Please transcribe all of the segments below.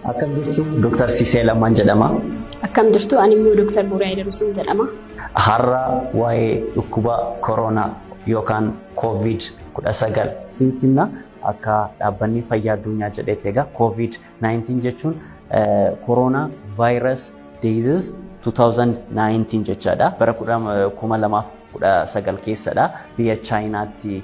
Akkam jirtu Dr. Sisee Lammaan jedhama. Akkam jirtu ani immoo Dr. Buuraa Idaruusin jedhama. Har'a waa'ee dhukkuba koronaa yookaan koovid 19 isinitti himna. Akka dhaabbanni fayyaa addunyaa jedhetti egaa koovid 19 jechuun koronaa vaayiras diizis 2019 jechaadha. Bara 2019 keessadha biyya Chaayinaatti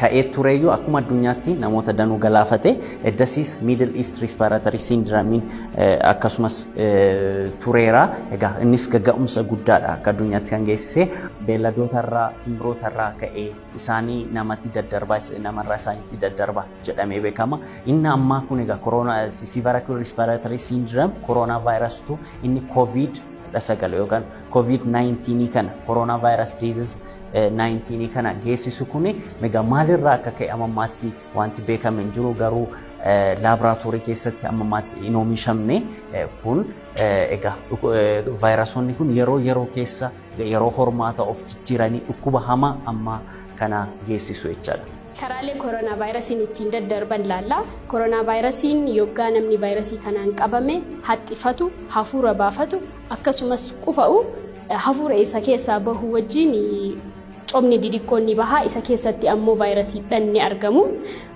ka'ee tureyyuu akkuma addunyaatti namoota danuu galaafate eddasiis miidil iist riispaaratarii siindiramiin akkasumas tureera egaa innis gagga'umsa guddaadha akka addunyaatti kan geessise beelladootarraa simbirootarraa ka'ee isaanii namatti daddarbaa namarraa isaanitti daddarba jedhamee beekama inni ammaa kun egaa koroonaa siivaraakil riispaaratarii siindiram koroonaa vaayirasitu inni kooviid 19 yookaan Covid 19 kana coronavirus disease 19 kana geessisu kun egaa maalirraa akka ka'e amma ammaatti wanti beekame hin jiru garuu laaboraatoorii keessatti amma ammaatti hin oomishamne kun egaa vaayirasoonni kun yeroo yeroo keessa yeroo hormaata of jijjiiranii dhukkuba hamaa amma kana geessisu jechaadha. Karaalee koronaavaayirasiin ittiin daddarban laalla. Koronaavaayirasiin yoggaa namni vaayirasii kanaan qabame haxxifatu, hafuura baafatu akkasumas qufa'u hafuura isa keessaa bahu wajjin cobni didiqqoon ni baha. Isa keessatti ammoo vaayirasiidhaan ni argamu.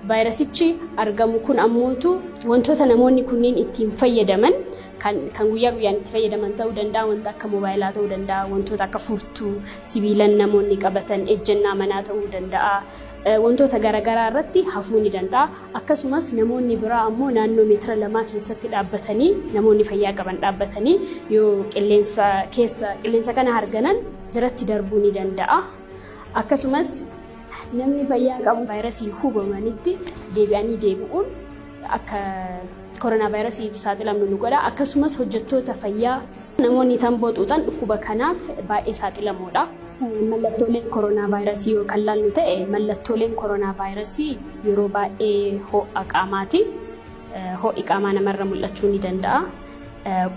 Vaayirasichi argamu kun ammootu wantoota namoonni kunniin ittiin fayyadaman kan guyyaa guyyaan itti fayyadaman ta'uu danda'a, wanta akka moobaayilaa ta'uu danda'a, wantoota akka furtuu, Sibiilan namoonni qabatan ejjennaa manaa ta'uu danda'a. Wantoota garaagaraa irratti hafuu ni danda'a. Akkasumas namoonni biraa ammoo naannoo meetira lamaa keessatti dhaabbatanii namoonni fayyaa qaban dhaabbatanii yoo qilleensa keessa qilleensa kana harganan jiratti darbuu ni danda'a. Akkasumas namni fayyaa qabu vaayirasiin hubamanitti deebi'anii deebi'uun akka koronaavaayirasiif saaxilamnu nu godha. Akkasumas hojjettoota fayyaa namoonni tamboo xuuxan dhukkuba kanaaf baay'ee saaxilamoodha. Mallattoolee koronaavaayirasii yoo kan laallu ta'e mallattooleen koronaavaayirasii yeroo baay'ee ho'a qaamaati. Ho'i qaamaa namarra mul'achuu ni danda'a.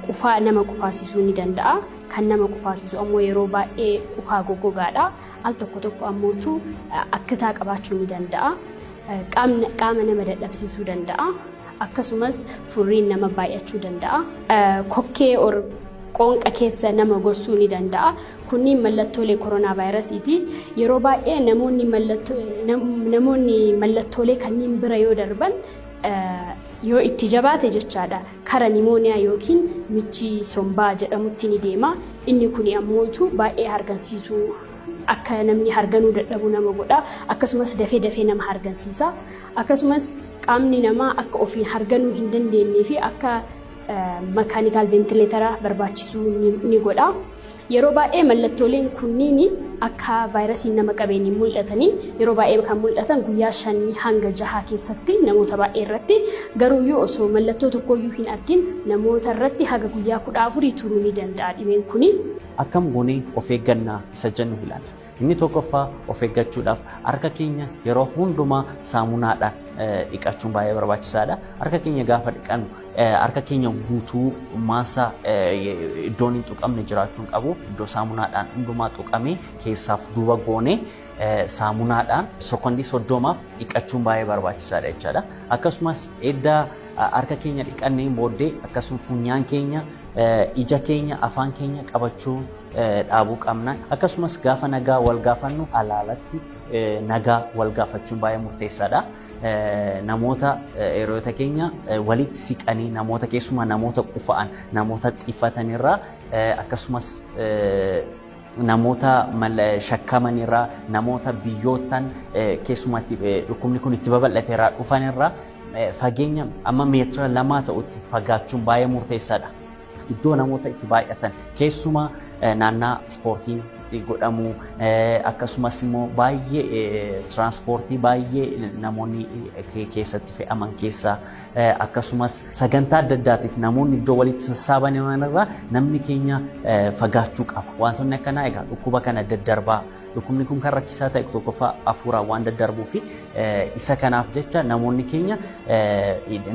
Qufaa nama qufaasisuu ni danda'a. Kan nama qufaasisu ammoo yeroo baay'ee qufaa goggogaadha. Al tokko tokko ammootu akkataa qabaachuu ni danda'a. Qaamni qaama nama dadhabsiisuu danda'a. Akkasumas furriin nama baay'achuu danda'a. Kokkee or qoonqa keessa nama gossuu ni danda'a. Kunniin mallattoolee koronaa vaayirasiiti. Yeroo baay'ee namoonni mallattoo- nam- namoonni mallattoolee kanneen bira yoo darban eh, yoo itti jabaate jechaadha kara nimooniyaa yookiin michii sombaa jedhamutti ni deema. Inni kuni ammoo utuu baay'ee hargansiisuu Akka namni harganuu dadhabu nama godha. Akkasumas dafee dafee nama hargansiisa. Akkasumas qaamni namaa akka ofiin harganuu hin dandeenyee fi akka makaanikaal ventileetara barbaachisuu ni godha. Yeroo baay'ee mallattooleen kunniin akka vaayirasiin nama qabeen hin mul'atanii yeroo baay'ee kan mul'atan guyyaa shanii hanga jahaa keessatti namoota baay'ee irratti garuuyyuu osoo mallattoo tokkooyyuu hin argin namoota irratti haga guyyaa kudha afurii turuu ni danda'a dhibeen kuni. Akkam goonee of eegganna isa jennu ilaalla. Inni tokkoffaa of eeggachuudhaaf harka keenya yeroo hundumaa saamunaadhaan dhiqachuun baay'ee barbaachisaadha. Harka keenya gaafa dhiqannu harka keenya guutuu maasa iddoon hin tuqamne jiraachuu hin qabu. Iddoo saamunaadhaan hundumaa tuqamee keessaaf duuba goonee saamunaadhaan sekondii soddomaaf dhiqachuun baay'ee barbaachisaadha jechaadha. Akkasumas edda harka keenya dhiqanneen booddee akkasumas funyaan keenya, ija keenya, afaan keenya qabachuu dhaabuu qabna. Akkasumas gaafa nagaa wal gaafannu alaalatti nagaa wal gaafachuun baay'ee murteessaadha. Namoota hiriyoota keenya walitti siqanii namoota keessumaa namoota qufa'an namoota xiffatanirraa akkasumas namoota shakkaman irraa namoota biyyoottan keessumatti dhukkubni kun itti babal'ate irraa dhufan irraa fageenya amma meetira lamaa ta'utti fagaachuun baay'ee murteessaadha. Iddoo namoota itti baay'atan keessumaa naannaa ispoortiin itti godhamu akkasumas immoo baay'ee tiraanspoortii baay'ee namoonni keessatti fe'aman keessaa akkasumas sagantaa adda addaatiif namoonni iddoo walitti sassaabaman irraa namni keenya fagaachuu qaba. Wantoonni akkanaa egaa dhukkuba kana daddarbaa dhukkubni kun kan rakkisaa ta'e tokkoffaa hafuuraan waan daddarbuu fi isa kanaaf jecha namoonni keenya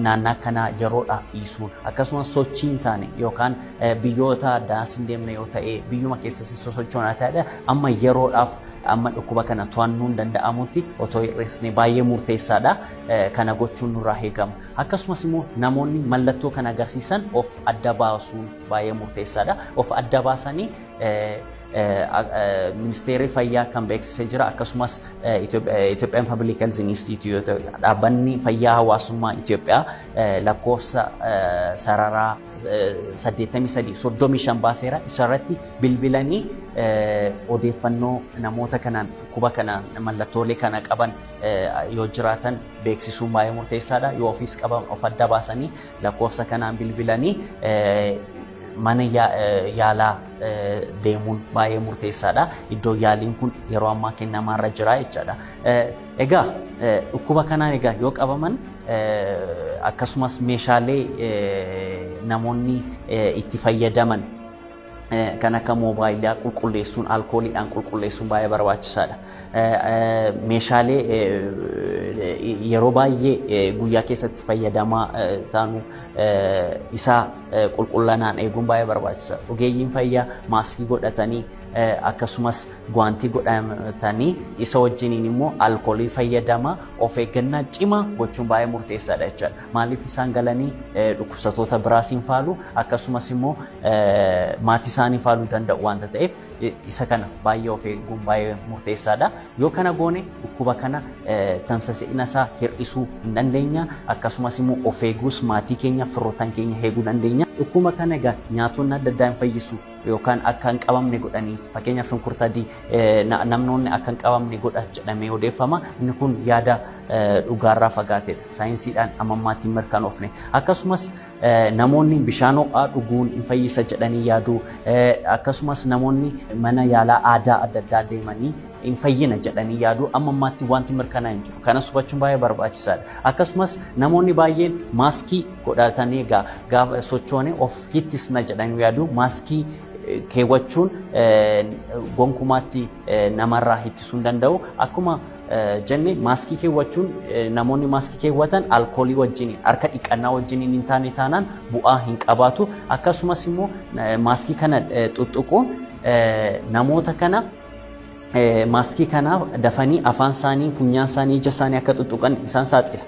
naannaa kanaa yeroodhaaf dhiisuun akkasumas sochii hin taane yookaan biyyoota addaas hin deemne yoo ta'e biyyuma keessas hin sosochoonaa ta'edha amma yeroodhaaf amma dhukkuba kana to'annuun danda'amutti otoo hir'isne baay'ee murteessaadha. kana gochuun nurraa eegama. Akkasumas immoo namoonni mallattoo kana agarsiisan of adda baasuun baay'ee murteessaadha. Of adda baasanii ministeerri fayyaa kan beeksisee jira akkasumas Itoophiyaan Pabliik Health Inistiitiyuuti dhaabbanni fayyaa hawaasummaa Itoophiyaa lakkoofsa sararaa 83 35 baaseera isarratti bilbilanii odeeffannoo namoota kanaan dhukkuba kanaan mallattoolee kana qaban yoo jiraatan beeksisuun baay'ee murteessaadha. Yoo ofiis qaban of adda baasanii lakkoofsa kanaan bilbilanii mana yaalaa deemuun baay'ee murteessaadha. Iddoo yaaliin kun yeroo ammaa kennamaarra jira jechaadha. Egaa dhukkuba kanaan egaa yoo qabaman akkasumas meeshaalee namoonni itti fayyadaman kan akka moobaayilaa qulqulleessuun alkooliidhaan qulqulleessuun baay'ee barbaachisaadha. Meeshaalee yeroo baay'ee guyyaa keessatti fayyadamaa taanu isaa qulqullinaan eeguun baay'ee barbaachisaadha. Ogeeyyiin fayyaa maaskii godhatanii akkasumas guwaantii godhatanii isa wajjiniin immoo alkoolii fayyadamaa of eeggannaa cimaa gochuun baay'ee murteessaadha jechuudha. Maaliif isaan galanii dhukkubsatoota biraas hin faalu akkasumas immoo maatii isaanii faaluu danda'u waanta ta'eef isa kana baay'ee of eeguun baay'ee murteessaadha. Yoo kana goone dhukkuba kana tamsa'ina isaa hir'isuu hin dandeenya akkasumas immoo of eeguus maatii keenya firoottan keenya eeguu dandeenya. Dhukkuba kana egaa nyaatonni adda addaa hin fayyisu yookaan akka hin qabamne godhanii fakkeenyaaf shunkurta adii namnoonni akka hin qabamne godha jedhamee odeeffama. Inni kun yaada dhugaarraa fagaatedha. saayinsiidhaan amma ammaatti hin mirkanoofne. Akkasumas namoonni bishaan ho'aa dhuguun hin fayyisa jedhanii yaadu. Akkasumas namoonni mana yaalaa aadaa adda addaa deemanii hin fayyina jedhanii yaadu. Amma ammaatti wanti mirkanaa'e hin jiru. Kanas hubachuun baay'ee barbaachisaadha. Akkasumas namoonni baay'een maaskii godhatanii egaa gaafa sochoone of hittisna jedhanii yaadu. Maaskii keewwachuun gonkumaatti namarraa hittisuu hin danda'u. Akkuma jenne maaskii keewwachuun namoonni maaskii keewwatan alkoolii wajjin harka dhiqannaa wajjin hin taane taanaan bu'aa hin qabaatu akkasumas immoo maaskii kana xuxxuquun namoota kana maaskii kana dafanii afaan isaanii funyaan isaanii ija isaanii akka xuxxuqan isaan saaxila.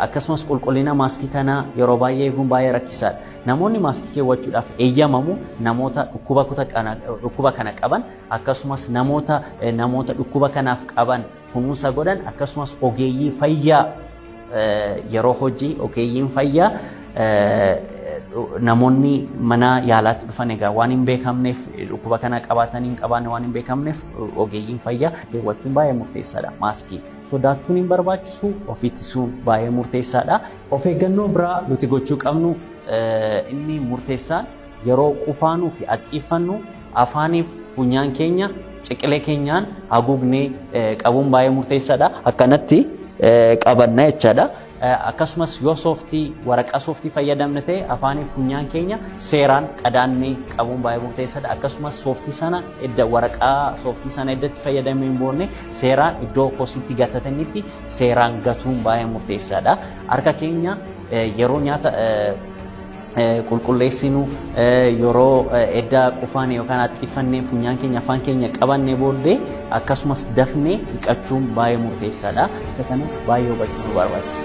akkasumas qulqullina maaskii kanaa yeroo baay'ee eeguun baay'ee rakkisaadha. Namoonni maaskii keewwachuudhaaf eeyyamamu namoota dhukkuba kana qaban akkasumas namoota namoota dhukkuba kanaaf qaban kunuunsa godhan akkasumas ogeeyyii fayyaa yeroo hojii ogeeyyiin fayyaa namoonni mana yaalaatti dhufan egaa waan hin beekamneef dhukkuba kana qabaatanii hin qabaanne waan hin beekamneef ogeeyyiin fayyaa keewwachuun baay'ee murteessaadha maaskii sodaachuun hin barbaachisu of ittisuun baay'ee murteessaadha. Of eeggannoo biraa nuti gochuu qabnu inni murteessaan Yeroo qufaanuu fi haxxiiffannu afaanii fi funyaan keenya ciqilee keenyaan haguugnee qabuun baay'ee murteessaadha. Akkanatti qabanna jechaadha. Akkasumas yoo sooftii waraqaa sooftii fayyadamne ta'e afaanii fi funyaan keenya seeraan qadaannee qabuun baay'ee murteessaadha. Akkasumas sooftii sana edda waraqaa sooftii sana edda itti fayyadamee hin boonne seeraan iddoo kositti gatatannitti seeraan gatuun baay'ee murteessaadha. Harka keenya yeroo nyaata qulqulleessinu yeroo edda qufaane yookaan haxxiiffanne funyaan keenya afaan keenya qabanne booddee akkasumas dafne dhiqachuun baay'ee murteessaadha. Isa kana baay'ee hubachuu nu barbaachisa.